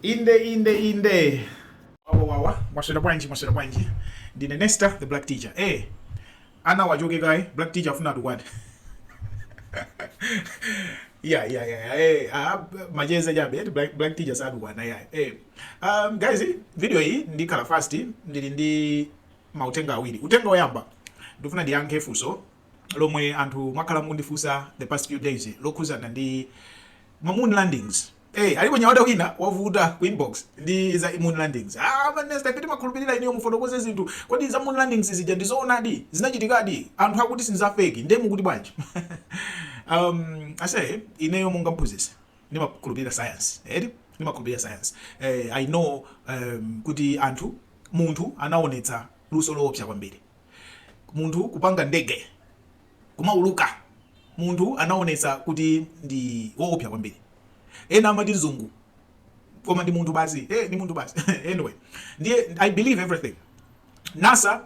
inde inde inde wawawawa mwaswera bwanji mwaswera bwanji ndine nesta the black teacher eh ana achoke kaye black teacher afuna atukwane yeah yeah yeah eh ah macheza chabe eti black, black teacher satukwana yeah eh um guys video iyi ikhala fast ndili ndi mautenga awiri utenga oyamba ndifuna ndiyankhe funso lomwe anthu mwakhala mukundifunsa the past few days lokhuzana ndi ma moon landings Hey, eh, alipo nyamata wina wavuta ku inbox ndi za moon landings. Ah, man, nesta timakhulupirira inuyo mufotokoze zinthu. Kodi za moon landings zija ndi zoonadi? Zinachitikadi? Anthu akuti si za fake. Ndiye mukuti bwanji? um, ase ineyo monga mphunzitsi ndimakhulupirira science. Edi? Ndimakhulupirira science. Eh, I know um, kuti munthu anaonetsa luso loopsa kwambiri. munthu kupanga ndege kumauluka munthu anaonetsa kuti ndi woopsa kwambiri ena amati mzungu koma ndi munthu basi hey, eh, ndi munthu basi anyway ndiye i believe everything nasa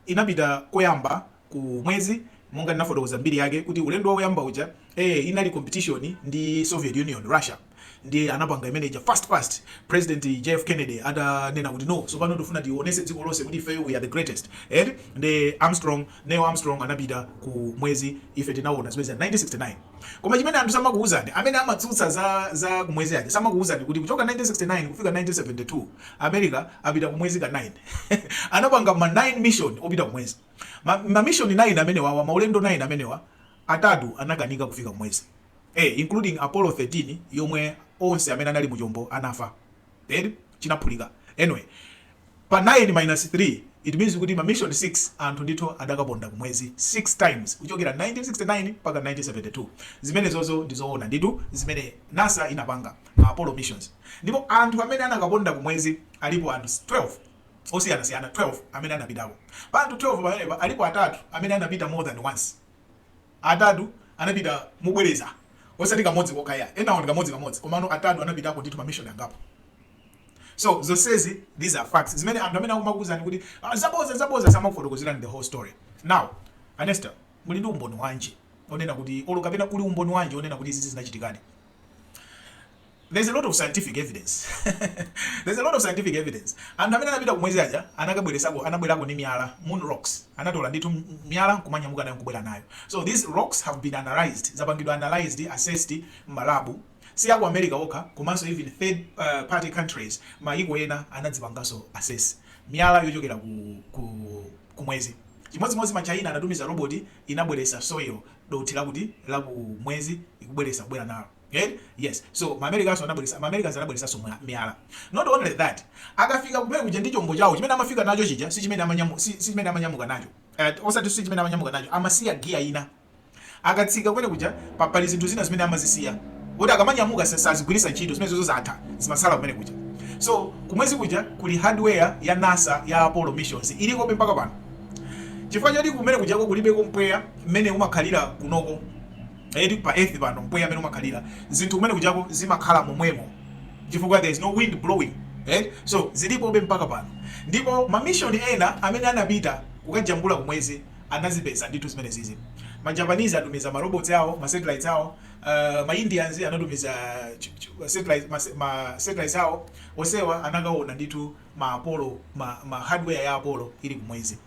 inapita koyamba ku mwezi monga ndinafotokoza mbiri yake kuti ulendo woyamba uja eh, inali competition ndi soviet union russia ndiye anapanga imene ija fast fast president jf kennedy atanena kuti no so pano tifuna tionetse dziko lonse kuti ifeyo we are the greatest eti ndi armstrong neil armstrong anapita ku mwezi ife tinaona zimene za 1969 koma chimene anthu samakuuzani amene amatsutsa za za kumwezi aja samakuuzani kuti kuchoka 1969 kufika 1972 america apita kumwezi ka 9 anapanga ma 9 mission opita kumwezi ma, ma mission 9 amenewa maulendo 9 amenewa atatu anakanika kufika kumwezi A, including Apollo 13 yomwe onse amene anali mu chombo anafa. chinaphulika. Anyway, pa 9 minus 3, it means kuti ma mission 6 anthu ndithu adakaponda ku mwezi 6 times kuchokera 1969 mpaka 1972. Zimenezozo ndi zoona ndithu zimene NASA inapanga, ma Apollo missions. Ndipo anthu amene anakaponda ku mwezi alipo anthu 12 osiyanasiyana 12 amene anapitako. Pa anthu 12 pamenepa alipo atatu amene anapita more than once. Atatu anapita mobwereza, osati kamodzi kokha iyayi, enawo ndi kamodzi kamodzi komano atatu anapitako ndithu ma mission angapo. So zonsezi these are facts zimene anthu amene akumakuuzani kuti ah zabodza zabodza samakufotokozerani the whole story. Now a Nesta muli ndi umboni wanji onena kuti olo kapena kuli umboni wanji onena kuti izizi zinachitikadi? There's a lot of scientific evidence there's a lot of scientific evidence anthu amene anapita kumwezi aja anakabweresako anabwerako ndi miyala moon rocks anatola ndithu miyala nkumanyamuka nayo nkubwera nayo so these rocks have been analyzed zapangidwa analyzed assessed mmalabu si aku america okha komanso even third uh, party countries mayiko ena anadzipanganso assess miyala yochokera ku, ku, kumwezi chimodzimodzi ma China anatumiza roboti inabweresa soil dothi la kumwezi ikubweresa kubwera nalo Eh? Yes. So ma Americans anabweresa, ma Americans anabweresanso mwa- miyala. Not only that, akafika kumene kuja ndi chombo chawo chimene amafika nacho chija si chimene amanyamu si, si chimene amanyamuka nacho. Eh, osati si chimene amanyamuka nacho, amasiya giya ina. Akatsika kumene kuja pa- pali zinthu zina zimene amazisiya. Kuti akamanyamuka sa- sazigwiritsa ntchito zimene zozo zatha zimasala kumene kuja. So kumwezi kuja kuli hardware ya NASA ya Apollo missions ilikobe mpaka pano. Chifukwa choti kumene kujako kulibeko mpweya mmene umakhalira kunoko kunoko pa earth pano mpweya mmene umakhalira zinthu kumene kujako zimakhala momwemo chifukwa there is no wind blowing eh? so zilipobe mpaka pano ndipo ma mission ena amene anapita kukajambula kumwezi anazipeza ndithu zimene zizi ma Japanese atumiza ma robots awo ma satellites awo uh, ma Indians anatumiza ma satellites awo onsewa anakaona ndithu ma apollo ma, ma hardware ya apollo ili kumwezi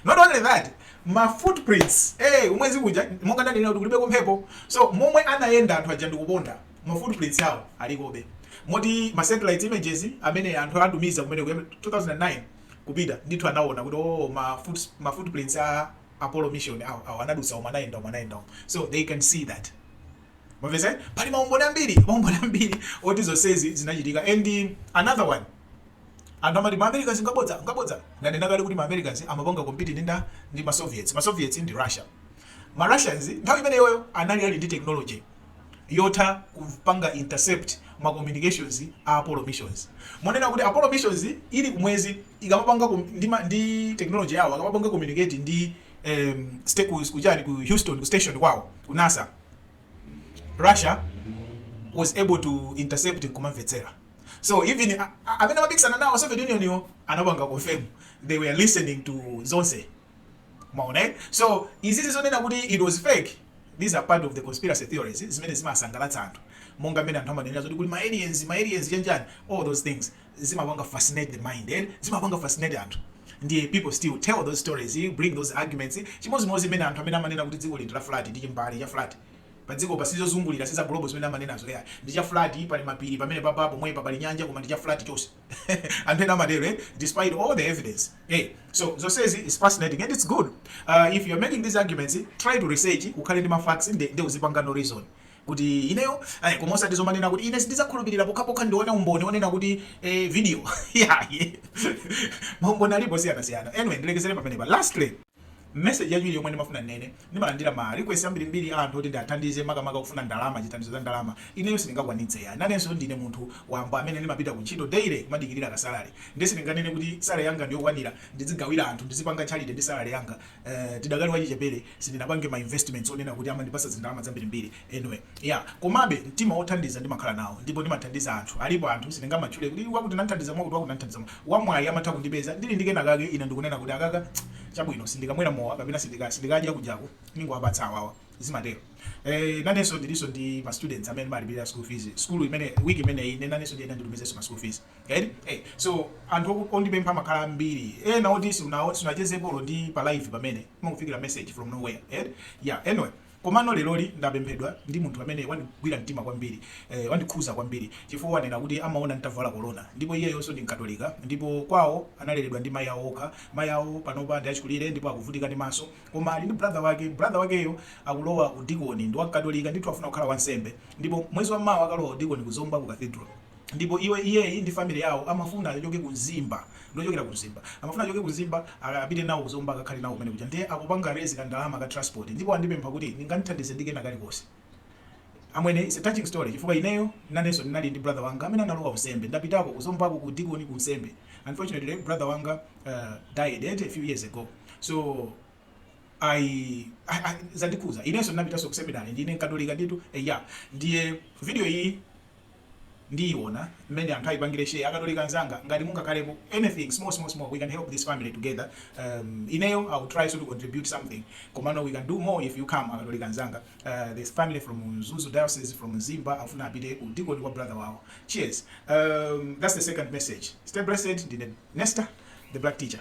not only that ma footprints ee kumwezi kuja monga ndanenera kuti kulibeko mphepo so momwe anayenda anthu aja ndikuponda ma footprints awo alikobe moti ma satellite images amene anthu atumiza kumene kuja mu 2009 kupita ndithu anaona kuti oh ma foot, ma footprints a Apollo mission awo awo anadutsa umu anayenda umu anayenda umu so they can see that mwapeza pali maumboni ambiri maumboni ambiri oti zonsezi zinachitika and another one Anthu amati ma Americans ngabodza, ngabodza. Ndanena kale kuti ma Americans amapanga compete ndi ndani? Ndi ma Soviets. Ma Soviets ndi Russia. Ma Russians nthawi imeneyoyo anali ali ndi technology yotha kupanga intercept ma communications a Apollo missions. Monena kuti Apollo missions ili ku mwezi ikamapanga ku ndi ma ndi technology yawo akamapanga communicate ndi em sti ku ku chani ku Houston ku station kwawo ku NASA Russia was able to intercept nkumamvetsera. so even amene amapikisana nawo Soviet Union yo anapanga confirm they were listening to zonse maona eh? so izizi zonena kuti it was fake these are part of the conspiracy theories zimene zimasangalatsa anthu monga mmene anthu amanenera zoti kuli ma aliens ma aliens chanjani all those things zimapanga fascinate the mind eh? zimapanga fascinate anthu ndiye people still tell those stories bring those arguments chimodzimodzi mmene anthu amene amanena kuti dziko lino ndi la flat ndi chimbali cha flat padzikopa si zozungulira si za globe zimene amanenazo yayi ndi cha flat pali mapiri pamenepapa pomwepa pali nyanja koma ndi cha flat chonse anthu ena amatero eh? despite all the evidence eh? so zonsezi it's fascinating and it's good uh, if you're making these arguments try to research ukhale ndi mafacts nde, nde uzipangano reason kuti ineyo eh, koma osati zomanena kuti ine sindizakhulupirira pokhapokha ndione umboni onena kuti eh, video yayi maumboni alipo osiyanasiyana anyway ndilekezere pamenepa lastly Message yachiwiri yomwe ndimafuna ndinene, ndimalandira ma request ambirimbiri a anthu oti ndiathandize makamaka kufuna ndalama, chithandizo cha ndalama. Ineyo sindingakwanitse yayi. Nanenso ndine munthu wamba amene ndimapita ku ntchito daily kumadikirira ka salary. Ndiye sindinganene kuti salary yanga ndiyokwanira ndizigawira anthu, ndizipanga charity ndi salary yanga. Eeh tidakali wachichepere, sindinapange ma investments onena kuti amandipatsa zindalama zambirimbiri. anyway yeah komabe mtima wothandiza ndimakhala nawo ndipo ndimathandiza anthu alipo anthu sindingamatchule kuti wakuti nanthandiza mwakuti wakuti nanthandiza mwa amwayi amatha kundipeza ndili ndi kena kake ine nkunena kuti akaka chabwino sindikamwera mowa kapena sindika sindikadya kujaku ningowapatsa awawa zimatero eh nanenso ndilinso ndi ma students amene ndimalipira school fees school imene week imene ine nanenso ndiye nditumizenso ma school fees right eh so anthu oku- ondipempha amakhala ambiri ena oti siunawo siunachezepo ndi pa live pamene akufikira message from nowhere eh yeah anyway Komano leroli ndapemphedwa ndi munthu amene wandigwira mtima kwambiri, eh, wandikhuza kwambiri, chifukwa wanena kuti amaona nditavala kolona, ndipo iyeyonso ndi Mkatolika, ndipo kwawo analeredwa ndi mayi awo okha, mayi awo panopa ndi achikulire ndipo akuvutika ndi maso, koma ali ndi brother wake, brother wakeyo akulowa udikoni, ndi wa Mkatolika ndithu afuna kukhala wansembe, ndipo mwezi wammawa akalowa udikoni ku Zomba ku Cathedral. ndipo iye iyeyi ndi family yawo amafuna achoke ku Mzimba ndi ochokera ku Mzimba amafuna achoke ku Mzimba apite nawo ku Zomba akakhale nawo kumene kuja ndiye akupanga raise ka ndalama ka transport ndipo andipempha kuti ndingamthandize ndi kena kalikonse amwene it's a touching story chifukwa ineyo nanenso ndinali ndi brother wanga amene analowa unsembe ndapitako ku Zomba ku udikoni ku unsembe unfortunately brother wanga uh, died eh, a few years ago so I, I, I zandikhuza inenso ndinapitanso ku seminary ndine mkatolika ndithu eya ndiye video iyi ndiona mmene anthu ayipangile share akatolika anzanga ngati mungakhalepo anything small small small we can help this family together um ineyo i will try so to contribute something komano we can do more if you come akatolika anzanga uh this family from Mzuzu diocese from Mzimba afuna apite ku udikoni wa brother wawo cheers um that's the second message stay blessed ndine Nesta the black teacher